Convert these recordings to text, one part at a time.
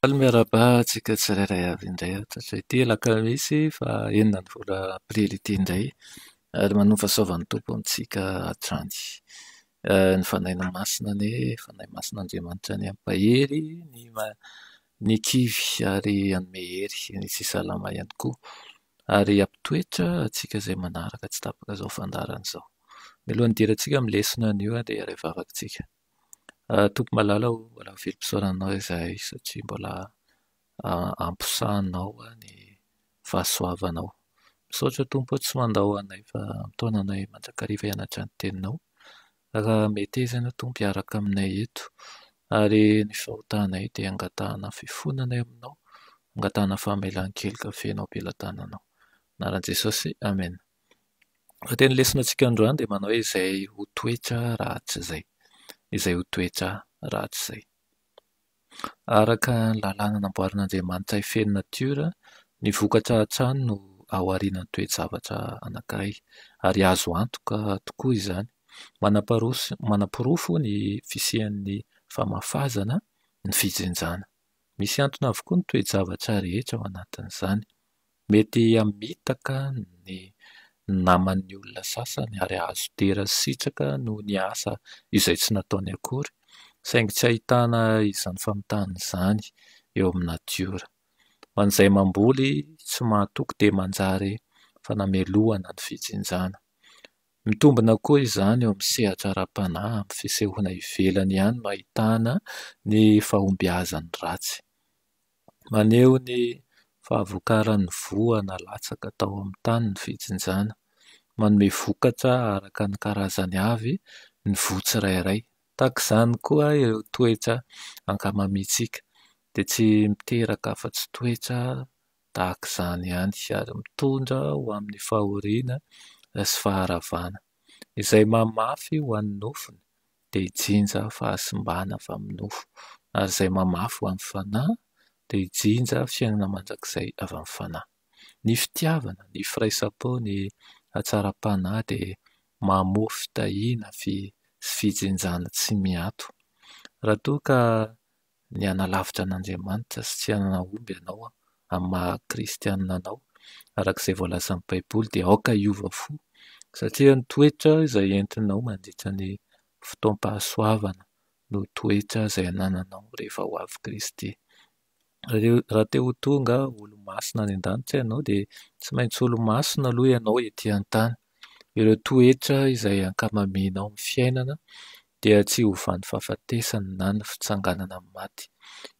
Faly miarahaba antsika tsirairay avy indray eto amin'izay ity alakamisy fahenina ny volana aprily ity indray ary manoa fahasoavan'ny Tompo amintsika hatrany. Ny Fanahin'ny Masina anie, Fanahy Masina Andriamanitra anie mampahery ny ma- ny kivy ary hanome hery sy salama ihany koa ary hampitoetra antsika izay manaraka tsy tapaka izao fandaharana izao. Mialohan'ny hidirantsika amin'ny lesona anio dia hiara-hivavaka isika. Tompoko malala o, mbola ho velom-pisaorana anao izahay satria mbola amposahanao ny fahasoavanao. Misaotra Tompo tsy mandao anay fa mitaona anay mandrakariva hianatra ny Teninao. Raha mety aizina Tompo hiaraka aminay eto ary ny fahotanay dia angatahana fifonana eo aminao, angatahana famelan-keloka feno am-pelatananao. Anaran'i Jesosy, Amena. Ny teny lesona antsika androany dia manao hoe izay ho toetra ratsy izay. Izay ho toetra ratsy izay. Araka ny lalàna namboarin'Andriamanitra hifehy ny natiora, ny vokatra hatrany no ao aorianan'ny toe-javatra anankiray, ary azo antoka tokoa izany. Manamparoso manaporofo ny fisian'ny famafazana ny fijinjana. Misy antony avokoa ny toe-javatra rehetra ao anatin'izany. Mety hamitaka ny naman'ny olona sasany ary hahazo dera sy sitraka noho ny asa izay tsy nataony akory, saingy tsy ahitana izany famitahana izany eo amin'ny natiora. Ho an'izay mamboly tsy mahatoky dia manjary fanamelohana ny fijinjana. Mitombina koa izany eo amin'ny sehatra ara-panahy amin'ny fisehoana ivelany ihany no ahitana ny fahombiazan'ny ratsy. Maneho ny fahavokaran'ny voa nalatsaka tao amin'ny tany ny fijinjana. Manome vokatra araka ny karazany avy ny voa tsirairay. Tahaka izany koa ireo toetra ankamamintsika dia tsy miteraka afa-tsy toetra tahaka izany ihany ary mitondra ho amin'ny fahoriana sy faharavana izay maha mafy ho an'ny nofony. dia jinja fahasimbana avy amin'ny nofo, ary izay mamafy ho an'ny Fanahy dia jinja fiainana mandrakizay avy amin'ny Fanahy. Ny fitiavana, ny firaisam-po, ny hatsaram-panahy dia mamoa fitahiana sy fijinjana tsy miato. Raha toa ka ny hanalavitra an'Andriamanitra sy tsy hanahomby ianao amin'ny maha kristianina anao araka izay voalazan'ny Baiboly dia aoka hiova fo satria ny toetra izay entinao mandritra ny fotoam-pahasoavana no toetra izay anananao rehefa ho avy Kristy. Raha te ho tonga olo-masina any an-danitra ianao dia tsy maintsy olo-masina aloha ianao ety an-tany. Ireo toetra izay ankamamianao amin'ny fiainana dia tsy ho vany fahafatesany na ny fitsanganana amin'ny maty.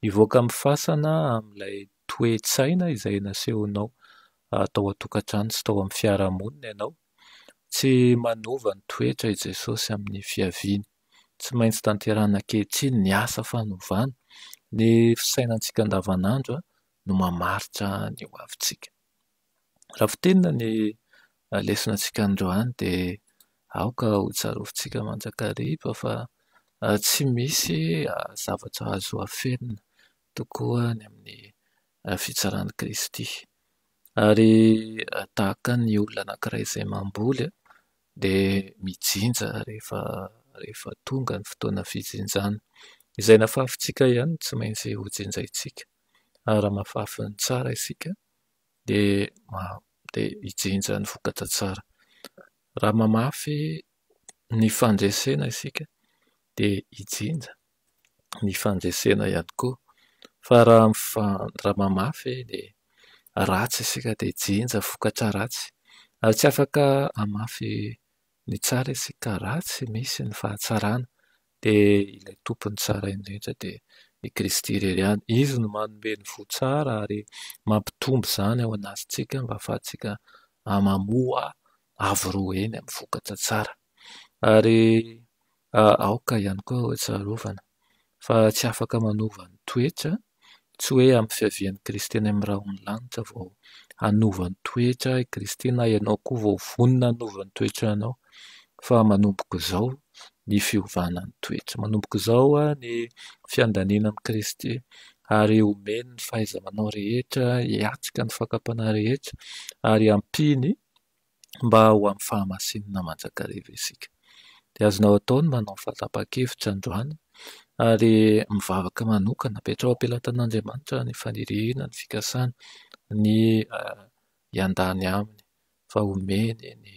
Mivoaka amin'ny fasana amin'ilay toe-tsaina izay nasehonao tao an-tokantrano sy tao amin'ny fiarahamonina ianao. Tsy manova ny toetra i Jesosy amin'ny fiaviany. Tsy maintsy tanterahina ankehitriny ny asa fanovana. Ny fisainantsika andavanandro no mamaritra ny hoavintsika. Raha voateninona ny lesona antsika androany dia aoka ho tsarovintsika mandrakariva fa tsy misy zavatra azo afenina tokoa any amin'ny fitsaran'i Kristy. Ary tahaka ny olona anankiray izay mamboly dia mijinja rehefa rehefa tonga ny fotoana fijinjana. Izay nafafintsika ihany no tsy maintsy ho jinjaintsika. Ary raha mahafafy ny tsara isika dia hijinja ny vokatra tsara. Raha mamafy ny fandresena isika dia hijinja ny fandresena ihany koa, fa raha mamafy ny ratsy isika dia hijinja vokatra ratsy. Ary tsy afaka hamafy ny tsara isika raha tsy misy ny fahatsarana Dia ilay Tompon'ny tsarain'ny rehetra dia i Kristy irery ihany. Izy no manome ny voa tsara ary mampitombo izany ao anatintsika mba hahafahantsika mamoa avo roa heny amin'ny vokatra tsara. Ary aoka ihany koa ho tsarovana fa tsy afaka manova ny toetra Tsy hoe ampy fiavian'i Kristy any amin'ny rahon'ny lanitra vao hanova ny toetra i Kristy na ianao koa vao vonona hanova ny toetranao fa manomboka izao ny fiovana ny toetra. Manomboka izao ny fiandaniana amin'i Kristy ary omeny ny fahaiza-manao rehetra hiatrika ny fakam-panahy rehetra ary ampiany mba ho amin'ny fahamasinana mandrakariva isika. Dia azonao atao ny manao ny fanapahan-kevitra androany ary mivavaka manokana, apetraho am-pelatan'Andriamanitra ny faniriana, ny fikasana, ny hiandany aminy fa homeny ny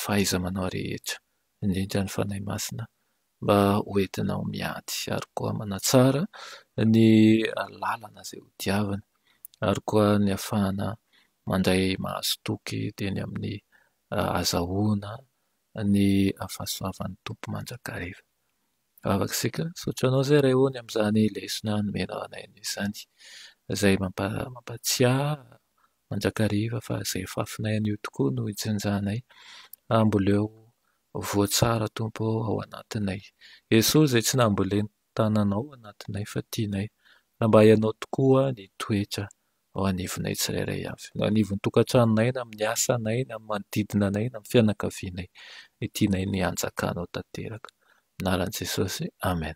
fahaiza-manao rehetra, indrindra ny Fanahy Masina mba ho entinao miady ary koa manatsara ny lalana izay hodiaviny ary koa ny hahafahana mandray mahazotoky teny amin'ny hahazahoana ny fahasoavan'ny Tompo mandrakariva. Vavaka isika, misaotra anao Zay Ray ô ny amin'izany lesona nomenao anay izany izay mampatsiahy Manjakariva fa izay fafinay anio tokoa no ijinjanay, amboleo voatsara Tompo ô ao anatinay. Jesosy izay tsy nambolen'ny tananao ao anatinay fa tianay, raha mba ianao tokoa ny toetra ao anivonay tsirairay avy, na anivon'ny tokantranonay na amin'ny asanay na amin'ny manodidina anay na amin'ny fianakavianay, ny tianay ny hanjakanao tanteraka. Amin'ny anaran'i Jesosy, Amen.